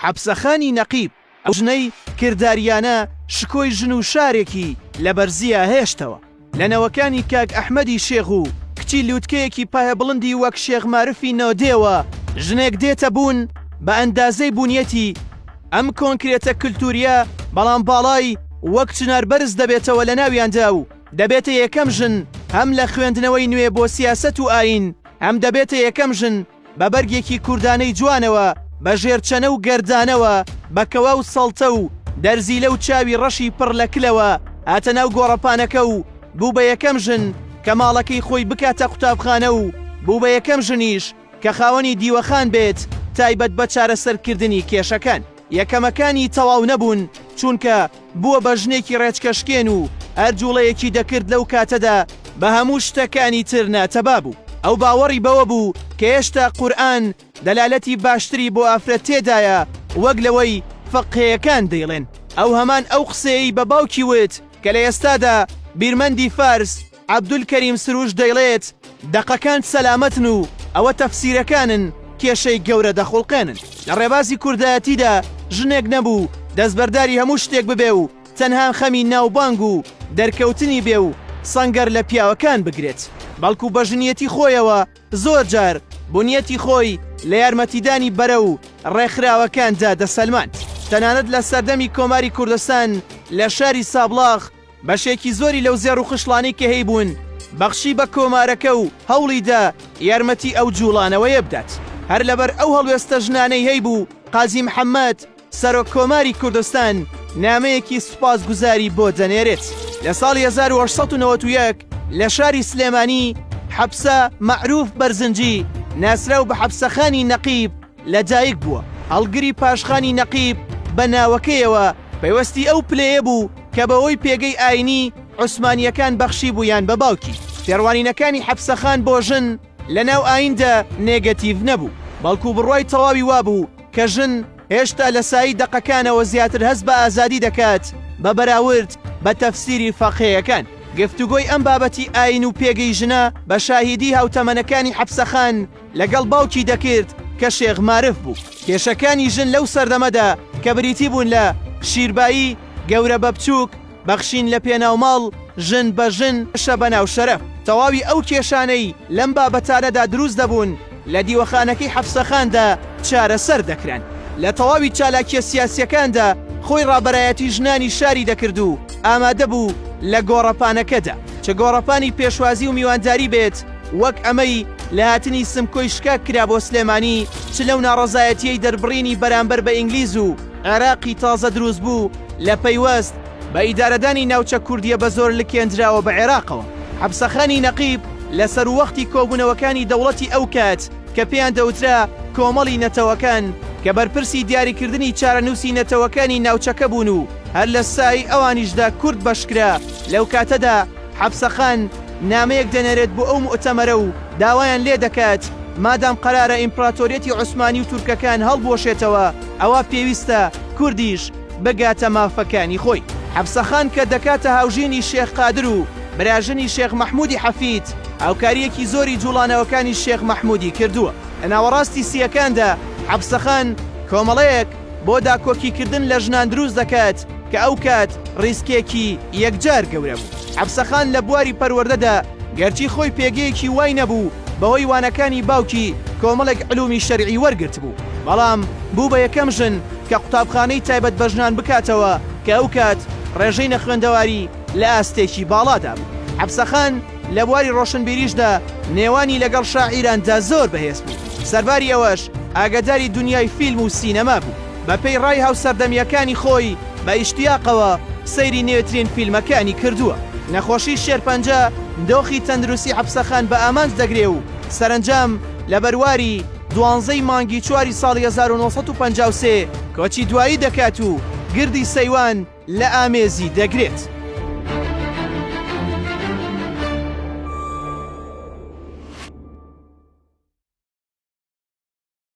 حەپسەخانی نەقیب، ئەو ژنەی کردارییانە شکۆی ژن و شارێکی لە بەرزییا هێشتەوە، لە نەوەکانی کاک ئەحمەدی شێخ و کچی لووتکەیەکی پایەبڵندی وەک شێخ مارفی نۆدێوە ژنێک دێتە بوون بە ئەندازەی بوونیەتی ئەم کۆنکرێتە کلتوورییە بەڵام باڵای وەک چنار بەرز دەبێتەوە لە ناویاندا و دەبێتە یەکەم ژن هەم لە خوێندنەوەی نوێ بۆ سیاسەت و ئایین هەم دەبێتە یەکەم ژن بە بەرگێکی کوردانەی جوانەوە، بە ژێرچەنە و گەردانەوە، بە کەوا و سەڵتە و دەرزیلە و چاوی ڕەشی پڕ لە کلەوە هاتە ناو گۆڕەپانەکە و بوو بە یەکەم ژن کە ماڵەکەی خۆی بکاتە قوتابخانە و بوو بە یەکەم ژنیش کە خاوەنی دیوەخان بێت تایبەت بە چارەسەرکردنی کێشەکان. یەکەمەکانی تەواو نەبوون، چونکە بووە بە ژنێکی ڕێچکەشکێن و هەر جووڵەیەکی دەکرد لەو کاتەدا بە هەموو شتەکانی تر ناتەبا بوو. ئەو باوەڕی بەوە بوو کە هێشتا قورئان دەلالەتی باشتری بۆ ئافرەت تێدایە وەک لەوەی فقهێیەکان دەیڵێن. ئەو هەمان ئەو قسەیەی بە باوکی وت کە لە ئێستادا بیرمەندی فارس عەبدولکەریم سروش دەیڵێت، دەقەکان سەلامەتن و ئەوە تەفسیرەکانن کێشەی گەورە دەخوڵقێنن. لە ڕێبازی کوردایەتیدا ژنێک نەبوو دەستبەرداری هەموو شتێک ببێ و تەنها خەمی ناوبانگ و دەرکەوتنی بێ و سەنگەر لە پیاوەکان بگرێت، بەڵکو بە ژنیەتی خۆیەوە زۆر جار بونیەتی خۆی لە یارمەتیدانی بەرە و ڕێکخراوەکاندا دەسەلماند. تەنانەت لە سەردەمی کۆماری کوردستان لە شاری سابڵاغ، بەشێکی زۆری لەو زێڕ و خشڵانەی کە هەیبوون بەخشی بە کۆمارەکە و هەوڵی دا یارمەتی ئەو جووڵانەوەیە بدات، هەر لەبەر ئەو هەڵوێستە ژنانەی هەیبوو قازی محەممەد سەرۆک کۆماری کوردستان نامەیەکی سوپاسگوزاری بۆ دەنێرێت. لە ساڵی هەزار و هەشت سەد و نەوەد و یەک لە شاری سلێمانی حەپسە مەعرووف بەرزنجی ناسراو بە حەپسەخانی نەقیب، لەدایک بووە، هەڵگری پاشخانی نەقیب بە ناوەکەیەوە پەیوەستی ئەو پلەیە بوو کە بەوەی پێگەی ئاینی عوسمانییەکان بەخشیبوویان بە باوکی. تێڕوانینەکانی حەپسەخان بۆ ژن لەناو ئاییندا نێگەتیڤ نەبوو، بەڵکو بڕوای تەواوی وابوو کە ژن هێشتا لە سایی دەقەکانەوە زیاتر هەست بە ئازادی دەکات بە بەراورد بە تەفسیری فەقێیەکان. گفتوگۆی ئەم بابەتی ئایین و پێگەی ژنە بە شاهیدی هاوتەمەنەکانی حەپسەخان، لەگەڵ باوکی دەکرد کە شێخ مارف بوو. کێشەکانی ژن لەو سەردەمەدا کە بریتی بوون لە، شیربایی، گەورە بە بچووک، بەخشین لە پێناو ماڵ، ژن بە ژن، شە بە ناو شەرەف. تەواوی ئەو کێشانەی لەم بابەتانەدا دروست دەبوون لە دیوەخانەکەی حەفسەخاندا چارەسەر دەکران. لە تەواوی چالاکییە سیاسییەکاندا خۆی ڕابەرایەتی ژنانی شاری دەکرد و ئامادە بوو لە گۆڕەپانەکەدا چ گۆڕەپانی پێشوازی و میوانداری بێت، وەک ئەمەی لە هاتنی سمکۆی شکاک کرا بۆ سلێمانی چ لەو ناڕەزایەتیەی دەربڕینی بەرامبەر بە ئینگلیز و عێراقی تازە دروست بوو لە پەیوەست بە ئیدارەدانی ناوچە کوردیە بە زۆر لکێندراوە بە عێراقەوە. حەپسەخانی نەقیب لە سەرووەختی کۆبوونەوەکانی دەوڵەتی ئەو کات کە پێیان دەوترا کۆمەڵی نەتەوەکان کە بەرپرسی دیاریکردنی چارەنووسی نەتەوەکانی ناوچەکە بوون و هەر لە سای ئەوانیشدا کورد بەشکرا لەو کاتەدا حەپسەخان نامەیەک دەنێرێت بۆ ئەو موئتەمەرە و داوایان لێ دەکات مادام قەرارە ئیمپراتۆریەتی عوسمانی و تورکەکان هەڵبوەشێتەوە ئەوا پێویستە کوردیش بگاتە مافەکانی خۆی. حەپسەخان کە دەکاتە هاوژینی شێخ قادر و براژنی شێخ مەحمودی حەفید، هاوکارییەکی زۆری جوڵانەوەکانی شێخ مەحمودی کردووە. لە ناوەڕاستی سییەکاندا حەپسەخان کۆمەڵەیەک، بۆ داکۆکی کردن لە ژنان دروست دەکات کە ئەو کات ڕیسکێکی یەکجار گەورە بوو. عەبسەخان لە بواری پەروەردەدا گەرچی خۆی پێگەیەکی وای نەبوو، بەهۆی وانەکانی باوکی کۆمەڵێک علومی شەرعی وەرگرتبوو، بەڵام بوو بە یەکەم ژن کە قوتابخانەی تایبەت بە ژنان بکاتەوە کە ئەو کات ڕێژەی نەخوێندەواری لە ئاستێکی باڵادا بوو. عەبسەخان، لە بواری ڕۆشنبیریشدا نێوانی لەگەڵ شاعیراندا زۆر بەهێز بوو، سەرباری ئەوەش ئاگەداری دونیای فیلم و سینەما بوو، بەپێی ڕای هاوسەردەمییەکانی خۆی بە ئیشتیاقەوە سەیری نوێترین فیلمەکانی کردووە. نەخۆشی شێرپەنجە دۆخی تەندروستی عەبسەخان بە ئامانج دەگرێ و سەرەنجام لە بەرواری دوانزە ی مانگی چواری ساڵی هەزار و نۆ سەد و پەنجا و سێ کۆچی دوایی دەکات و گردی سەیوان لە ئامێزی دەگرێت.